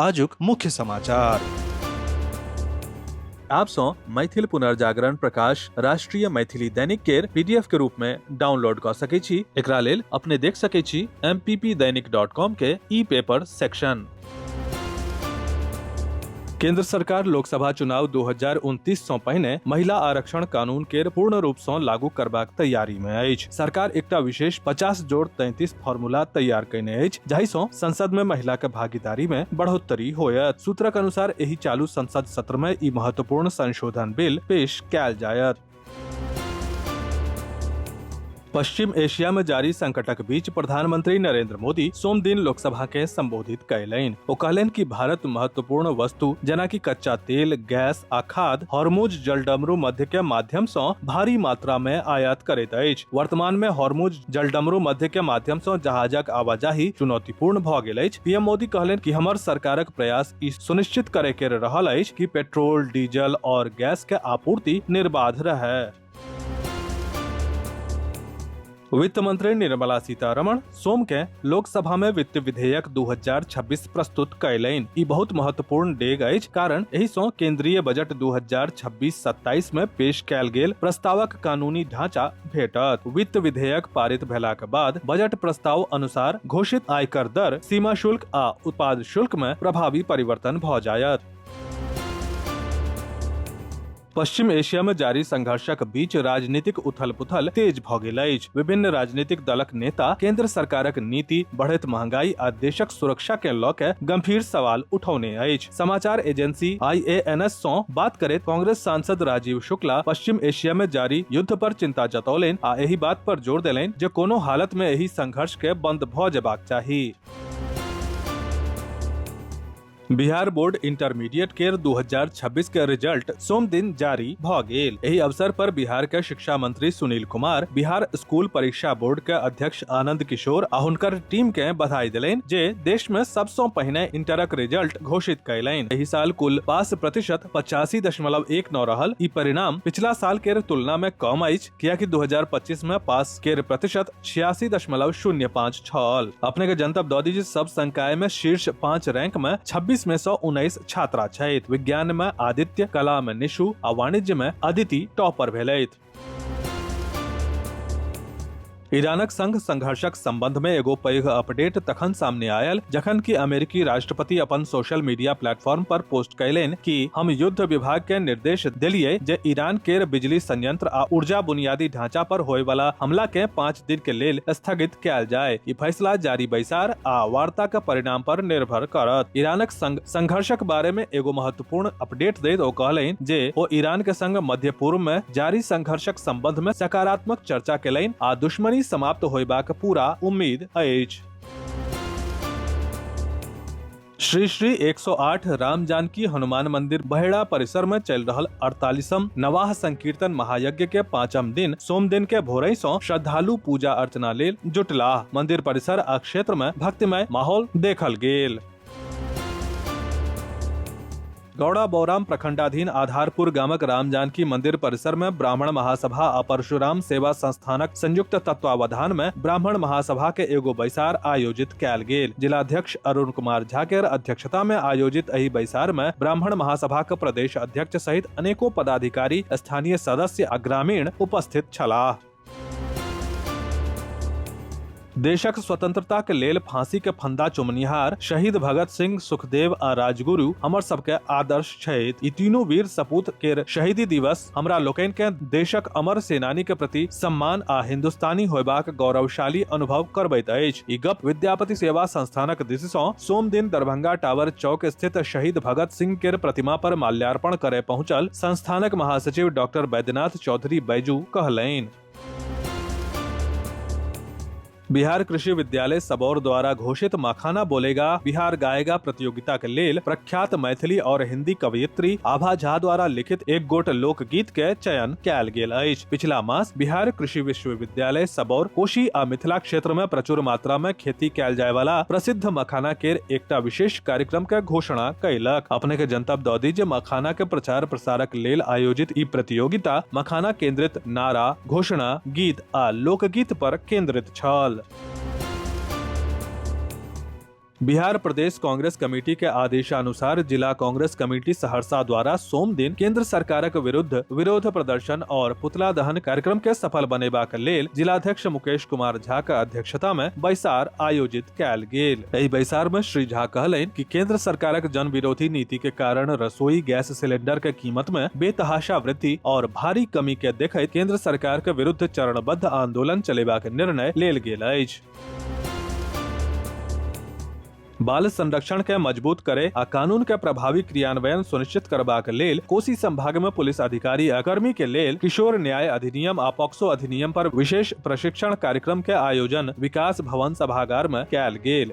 आजुक मुख्य समाचार आप सौ मैथिल पुनर्जागरण प्रकाश राष्ट्रीय मैथिली दैनिक केर पीडीएफ के रूप में डाउनलोड क सके छी एकरा लेल अपने देख सके छी mppdainik.com के ई पेपर सेक्शन केंद्र सरकार लोकसभा चुनाव 2029 सँ पहिने महिला आरक्षण कानून केर पूर्ण रूप सँ लागू करबाक तैयारी में अछि सरकार एकटा विशेष 50 जोड़ 33 फॉर्मूला तैयार कयने अछि जाहिसँ संसद में महिला के भागीदारी में बढ़ोतरी होयत सूत्रक अनुसार एहि चालू संसद सत्र में ई महत्वपूर्ण संशोधन बिल पेश कयल जायत पश्चिम एशिया में जारी संकटक बीच प्रधानमंत्री नरेंद्र मोदी सोम दिन लोकसभा के संबोधित कयलनि ओ कहलनि कि भारत महत्वपूर्ण वस्तु जेना कि कच्चा तेल गैस आ खाद हॉर्मुज जलडमरू मध्य के माध्यम से भारी मात्रा में आयात करैत अछि वर्तमान में हॉर्मुज जलडमरू मध्य के माध्यम सं जहाजक आवाजाही चुनौतीपूर्ण भ गेल अछि पीएम मोदी कहलनि कि हमर सरकारक प्रयास ई सुनिश्चित करे के रहल अछि कि पेट्रोल डीजल और गैस के आपूर्ति निर्बाध रहे वित्त मंत्री निर्मला सीतारमण सोम के लोकसभा में वित्त विधेयक 2026 प्रस्तुत कयलनि ई बहुत महत्वपूर्ण डेग अछि कारण एहि सं केंद्रीय बजट 2026-27 में पेश कयल गेल प्रस्तावक कानूनी ढांचा भेटत वित्त विधेयक पारित भेलाक बाद बजट प्रस्ताव अनुसार घोषित आयकर दर सीमा शुल्क आ उत्पाद शुल्क में प्रभावी परिवर्तन भ जायत पश्चिम एशिया में जारी संघर्षक बीच राजनीतिक उथल पुथल तेज भ गेल अछि विभिन्न राजनीतिक दलक नेता केंद्र सरकारक नीति बढ़ैत महंगाई आ देशक सुरक्षा के लऽ के गंभीर सवाल उठौने अछि समाचार एजेंसी आईएएनएस सो बात करे कांग्रेस सांसद राजीव शुक्ला पश्चिम एशिया में जारी युद्ध पर चिंता जतौलेन आ एही बात पर जोर देलेन जे कोनो हालत में एही संघर्ष के बंद भ जेबाक चाही बिहार बोर्ड इंटरमीडिएट केर 2026 के रिजल्ट सोम दिन जारी भ गेल एहि अवसर पर बिहार के शिक्षा मंत्री सुनील कुमार बिहार स्कूल परीक्षा बोर्ड के अध्यक्ष अध्यक्ष आनंद किशोर आ हुनकर टीम के बधाई दिलैन जे देश में सबसों पहिने इंटरक रिजल्ट घोषित कैलैन एहि साल कुल पास प्रतिशत पचासी दशमलव एक नौ रहल ई परिणाम पिछला साल के तुलना में कम अछि कियाकि 2025 में पास के प्रतिशत छियासी दशमलव शून्य पाँच छल अपने के जनतब दऽ दी जे सब संकाय में शीर्ष पाँच रैंक में 26 में सौ उन्नीस छात्रा छथि विज्ञान में आदित्य कला में निशु आ वाणिज्य में अदिति टॉपर भेलथि ईरानक संग संघर्षक संबंध में एगो पैघ अपडेट तखन सामने आयल जखन कि अमेरिकी राष्ट्रपति अपन सोशल मीडिया प्लेटफॉर्म पर पोस्ट कैलेन कि हम युद्ध विभाग के निर्देश दिलिए जे ईरान केर बिजली संयंत्र आ ऊर्जा बुनियादी ढांचा पर होय वाला हमला के पाँच दिन के लेल स्थगित कैल जाय ई फैसला जारी बैसार आ वार्ता के परिणाम पर निर्भर करत ईरानक संग संघर्षक बारे में एगो महत्व पूर्ण अपडेट दैत ओ कहलनि जे ओ ईरान के संग मध्य पूर्व में जारी संघर्षक संबंध में सकारात्मक चर्चा केलनि आ दुश्मनी समाप्त होयबाक पूरा उम्मीद अछि श्री श्री 108 राम जानकी हनुमान मंदिर बहेड़ा परिसर में चल रहल 48म नवाह संकीर्तन महायज्ञ के पांचम दिन सोम दिन के भोरई सो श्रद्धालु पूजा अर्चना लेल जुटला मंदिर परिसर आ क्षेत्र में भक्तिमय माहौल देखल गेल गौड़ा बौराम प्रखंडाधीन आधारपुर गामक राम जानकी मंदिर परिसर में ब्राह्मण महासभा आ परशुराम सेवा संस्थानक संयुक्त तत्वावधान में ब्राह्मण महासभा के एगो बैसार आयोजित कैल गेल जिलाध्यक्ष अरुण कुमार झा के अध्यक्षता में आयोजित एहि बैसार में ब्राह्मण महासभा के प्रदेश अध्यक्ष सहित अनेको पदाधिकारी स्थानीय सदस्य आ ग्रामीण उपस्थित छलाह देशक स्वतंत्रता के लेल फांसी के फंदा चुमनिहार शहीद भगत सिंह सुखदेव आ राजगुरु हमर सबके आदर्श छथि ई तीनू वीर सपूत केर शहीदी दिवस हमरा लोकनि के देशक अमर सेनानी के प्रति सम्मान आ हिंदुस्तानी होयबाक गौरवशाली अनुभव करबैत अछि ई गप विद्यापति सेवा संस्थानक दिशि सँ सोम दिन दरभंगा टावर चौक स्थित शहीद भगत सिंह केर प्रतिमा पर माल्यार्पण करे पहुंचल संस्थानक महासचिव डॉक्टर बैद्यनाथ चौधरी बैजू कहलनि बिहार कृषि विद्यालय सबौर द्वारा घोषित मखाना बोलेगा बिहार गाएगा प्रतियोगिता के लेल प्रख्यात मैथिली और हिंदी कवयित्री आभा झा द्वारा लिखित एक गोट लोकगीत के चयन कयल गेल अछि पिछला मास बिहार कृषि विश्वविद्यालय सबौर कोशी आ मिथिला क्षेत्र में प्रचुर मात्रा में खेती कयल जाय वाला प्रसिद्ध मखाना के एकटा विशेष कार्यक्रम के घोषणा कयलक अपने के जनतब दऽ दी जे मखाना के प्रचार प्रसारक छात्रक लेल आयोजित ई प्रतियोगिता मखाना केंद्रित नारा, घोषणा, गीत आ लोकगीत पर केंद्रित छल। बिहार प्रदेश कांग्रेस कमेटी के आदेशानुसार जिला कांग्रेस कमेटी सहरसा द्वारा सोम दिन केंद्र सरकारक विरुद्ध विरोध प्रदर्शन और पुतला दहन कार्यक्रम के सफल बनेबाक लेल जिलाध्यक्ष मुकेश कुमार झा के अध्यक्षता में बैसार आयोजित कयल गेल। एहि बैसार में श्री झा कहलनि कि केंद्र सरकारक जन विरोधी नीति के कारण रसोई गैस सिलेंडर के कीमत में बेतहाशा वृद्धि और भारी कमी के देखैत केंद्र सरकार के विरुद्ध चरणबद्ध आंदोलन चलेबाक निर्णय लेल गेल अछि बाल संरक्षण के मजबूत करे आ कानून के प्रभावी क्रियान्वयन सुनिश्चित करबाक लेल कोसी संभाग में पुलिस अधिकारी आ कर्मी के लेल किशोर न्याय अधिनियम आ पॉक्सो अधिनियम पर विशेष प्रशिक्षण कार्यक्रम के आयोजन विकास भवन सभागार में कयल गेल